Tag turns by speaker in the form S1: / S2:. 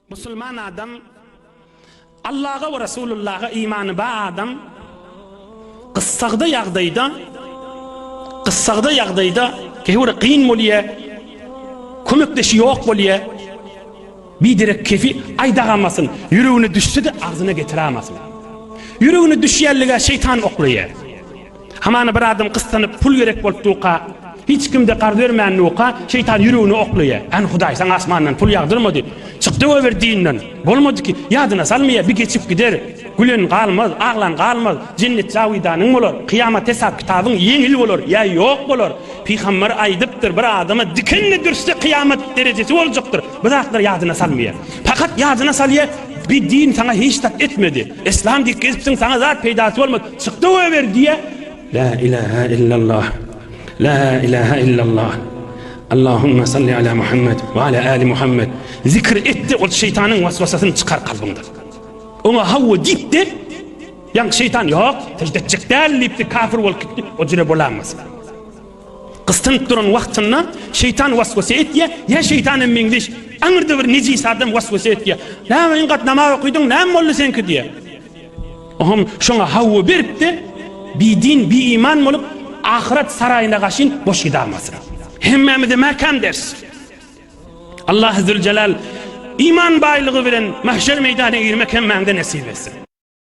S1: Musulman adam, Allaha we Resulullaha imany bar adam gyssagda ýagdaýda, gyssagda ýagdaýda kä bir kyn bolýa, kömekdeşi ýok bolýa, biderek kefi aýdagamasyn, ýüregine düşse-de agzyna getirämasyn. Ýüregine düşýänlige şeýtan oklaýa. Hamana bir adam gyssanyp, pul gerek bolup durka, hiç kim-de garz bermän durka, şeýtan ýüregine oklaýar. Än Hudaý saňa asmandan pul ýagdyrmady. Çykdy goýber dinden. Bolmady ki, ýadyna salmaýar, bi geçip gider. Gülen galmaz, aglan galmaz. Jennet jawidanyň bolar. Kyýamat hesap-kitabyň ýeňil bolar ýa ýok bolar. Pygamber aýdypdyr, bir adama dikenli dürtse kyýamat derejesi boljakdyr. Bu zatlary ýadyna salmaýar. Pakat ýadyna salýar, bi din saňa hiç zat etmedi. Yslam diýip gezipsiň, saňa zat peýdasy bolmady. Çykdy goýber diýýär. La ilaha illallah La ilaha illallah Allahumma salli ala Muhammed we ala ali Muhammed zikr etde ol şeýtanyň waswasasyny çykar kalbyňdan. Oňa hawa diýipdi. Ýaňky şeýtan ýok, sežde etjek däl diýipdi, kafir bolup gitdi. O jüre bolanmasyn. Gystynyp duran wagtynda şeýtan waswasa etýär, ýa şeýtan hem meňzeş aňyrda bir nejis adam waswasa etýär. Näme ýaňky namaz okydyň, näme boldy seňki diýýär. Oňa şoňa hawa berip-de, bidin, biiman bolup, ahyret saraýyna gaşyn boş gidamasyn. Hemmämize mäkäm ders. Allah Züljelal iman baýlygy bilen mahşer meýdana girmek hemmäňize nesip etsin.